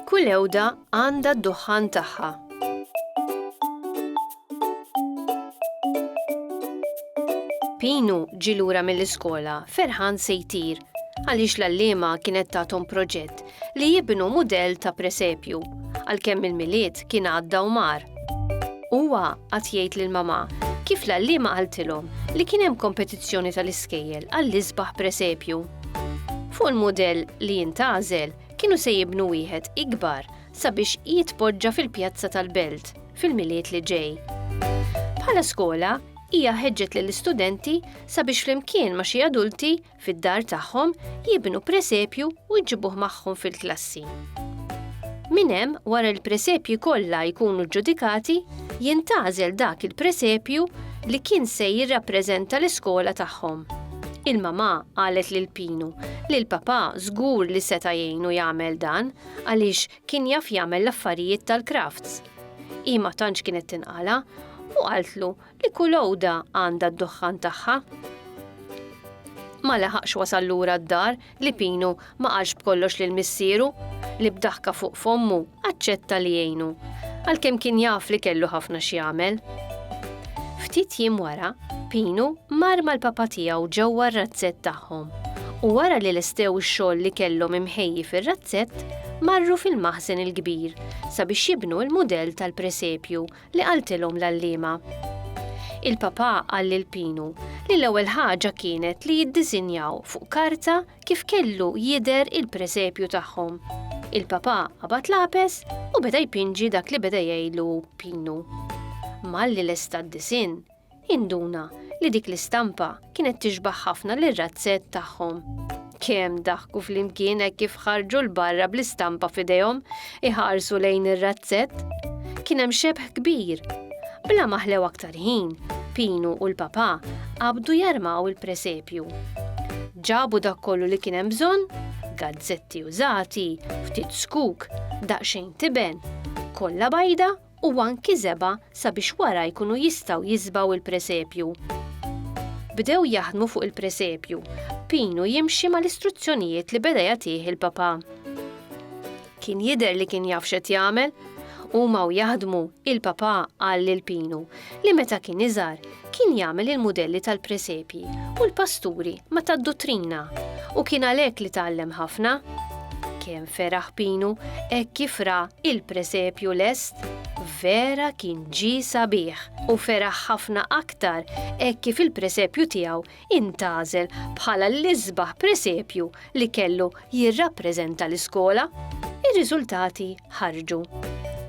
Kull ewda għandha d-duħħan tagħha. Pinu ġilura mill-iskola ferħan se jtir għaliex l-allima kienet tatom proġett li jibnu mudell ta' presepju, għalkemm il-Milied kien għadda u mar. Huwa qagħad jgħid lil mamà kif l-għalliema qaltilhom li kien hemm kompetizzjoni tal-iskejjel għall-isbaħ presepju. Fuq il-mudell li jintgħażel kienu se jibnu wieħed ikbar sabiex jitpoġġa fil-pjazza tal-Belt fil-Milied li ġej. Bħala skola, hija ħeġġet lill-istudenti sabiex flimkien ma' xi adulti Fid-dar tagħhom jibnu presepju u jġibuh magħhom fil-klassi. Minn hemm, wara l-presepji kollha jkunu ġġudikati, jintgħażel dak il-presepju li kien se jirrappreżenta l-iskola tagħhom. Il-mamà qalet lil Pinu li l-papà żgur li seta' jgħinu jagħmel dan għaliex kien jaf jagħmel l-affarijiet tal-crafts. Hi ma tantx kienet tinqala' u qaltlu Li kull għoda għandha d-duħħan tagħha. Ma laħaqx wasal lura d-dar li Pinu ma qalx b'kollox lil missieru, li b'daħka fuq fommu aċċetta li jgħinu, għalkemm kien jaf li kellu ħafna x'jagħmel. Ftit jiem wara, Pinu mar mal-papa tiegħu ġewwa r-razzett tagħhom u wara li lestew ix-xogħol li kellhom imħejji fir-razzett, marru fil-maħżen il-kbir sabiex jibnu l-mudell tal-presepju li qaltilhom l-għalliema. Il-Papà qal lil Pinu li l-ewwel ħaġa kienet li jiddisinjaw fuq karta kif kellu jidher il-presepju tagħhom. Il-Papà qabad lapes u beda jpinġi dak li beda jgħidlu Pinu. Malli lesta d-disinn, Induna li dik l-istampa kienet tixbaħ ħafna lir-razzett tagħhom. Kemm daħku flimkien hekk kif ħarġu l-barra bl-istampa f'idejhom iħarsu lejn ir-razzett. Kien hemm xebħ kbir. Bla maħlew aktar ħin, Pinu u l-papa qabdu jarmaw il-presepju. Ġabu dak kollu li kien hemm bżonn, gazzetti użati, ftit skuk, daqsxejn tiben, kollha bajda u anki żebgħa sabiex wara jkunu jistgħu jiżbgħu l-presepju. Bdew jaħdmu fuq il-presepju, Pinu jimxi mal-istruzzjonijiet li beda jagħtih il-Papà. Kien jidher li kien jaf x'qed jagħmel. Huma u jaħdmu, il-Papà qal lil Pinu li meta kien iżgħar, kien jagħmel il-mudelli tal-presepji u l-pasturi ma tad-duttrina u kien għalhekk li tgħallem ħafna. Kemm feraħ Pinu hekk kif ra il-presepju lest, vera kien ġi sabiħ u feraħ ħafna aktar hekk kif il-presepju tiegħu intażel bħala l-isbaħ presepju li kellu jirrappreżenta l-iskola. Ir-riżultati ħarġu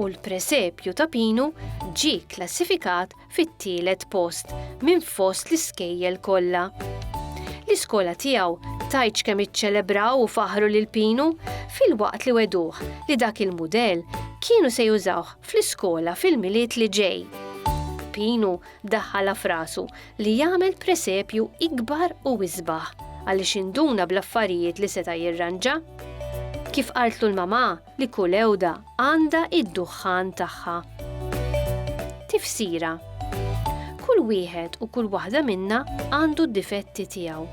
u l-presepju ta' Pinu ġie klassifikat fit-tielet post minn fost l-iskejjel kollha. L-iskola tiegħu tajtx kemm iċċelebraw u faħru lil Pinu filwaqt li weduh li dak il-mudell kienu se jużawh fl-iskola fil-Milied li ġej. Pinu daħħalha f'rasu li jagħmel presepju ikbar u isbaħ għaliex induna bl-affarijiet li seta' jirranġa. Kif qaltlu l-mamà, li kull għewda għandha id-duħħan tagħha. Tifsira Kull wieħed u kull waħda minna għandu d-difetti tiegħu.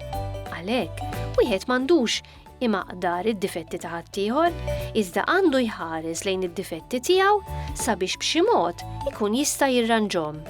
Għalhekk, wieħed m'għandux imaqdar id-difetti ta' ħaddieħor, iżda għandu jħares lejn id-difetti tiegħu sabiex b'xi mod ikun jista' jirranġhom.